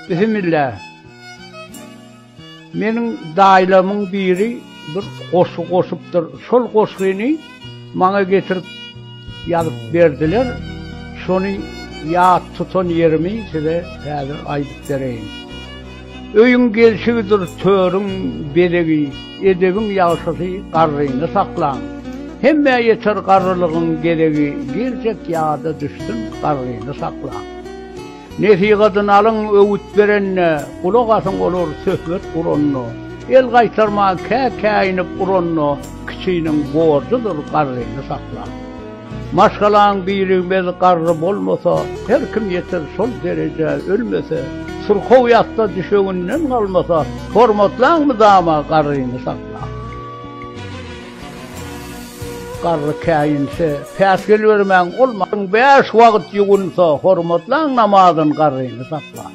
Bismillah. Meniň daýlamyň biri bir goşgy goşupdyr. Şol goşgyny maňa getirip ýazyp berdiler. Şony ýat tutan ýerimi size häzir aýdyp bereýin. Öýüň gelşigidir törüň bezegi, edebiň ýagşysy garryny saklan. Hemmä ýeter garrylygyň gezegi, girjek ýada düşsün garryny saklan. Nesihatyny alyň, öwüt berende, Gulak asyň olar söhbet guranda. El gaýtarman kä-käýinip uranda, Kiçiniň borjudyr garryny saklap. Maşgalaň birigmez garry bolmasa, Her kim ýeter şol derejä ölmese, Syrkaw ýatda düşeginden galmasa, Hormatlaň mydama garryny saklap. Garry käýinse, päsgel bermäň, ol maryň bäş wagt ýuwunsa, hormatlaň namazyn garryny saklap.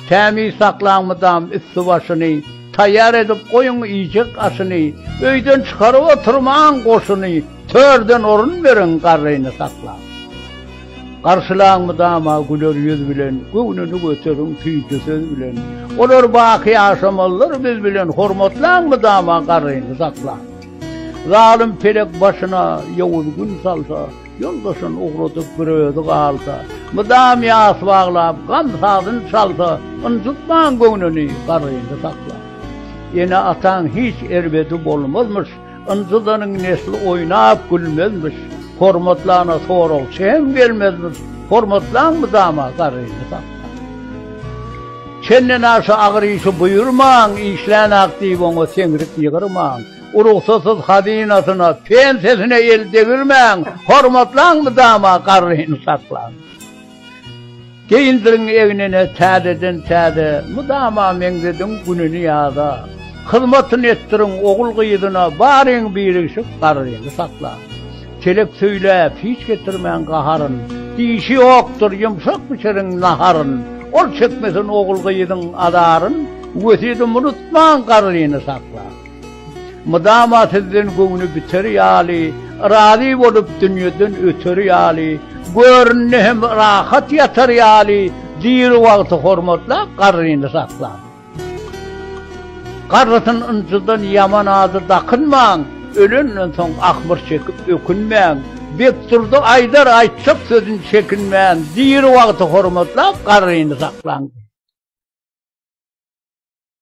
Tämiz saklaň mydam üsti-başyny, taýýar edip goýuň iýjek aşyny, öýden çykaryp oturmaň goşuny, törden orun beriň garryny saklap. Garşylaň mydama güler ýüz bilen, Göwnüni göteriň süýji söz bilen. Olar baky ýaşamazlar biz bilen, Hormatlaň mydama garryny saklaň. Zalym pelek başyna ýowuz gün salsa, Ýoldaşyn ugradyp bir özi galsa, Mydam ýas baglap gam sazyn çalsa, Ynjytmaň göwnüni garryny saklaň. Ene-ataň hiç erbedi bolmazmyş, Ynjydanyň nesli oýnap gülmezmiş, Hormatlana soragçy hem gelmezmiş, Hormatlaň mydama garryny saplan. Çendenaşa agyr işi buýurmaň, Işlän-ak diýip oňa seňrik ýygyrmaň. Urugsasyz hazynasyna, pensiýasyna el degirmäň, Hormatlaň mydama garryny saplan. Geýindirin egnine täzeden-täze, mydama meňzediň gününi ýaza. Hyzmatyny etdiriň ogul-gyzyna, baryň birigşik garryny saklan. Telek söýläp, hiç getirmän gaharyn, dişi ýokdur, ýumşak bişiriň naharyn. Ol çekmesin ogul-gyzyň azaryn, wesýedimi unutmaň garryny saklan. Mydama sizden göwni biter ýaly, Razy bolup dünýeden öter ýaly, Görnde hem rahat ýatar ýaly, Diri wagty hormatlap, garryny saklap. Garrysyn ynjydan ýaman ady dakynmaň, Ölenden soň ahmyr çekip ökünmäň. Bekdurdy aýdar aýtjak sözün çekinmän, Diri wagty hormatlap, garryny saklaň.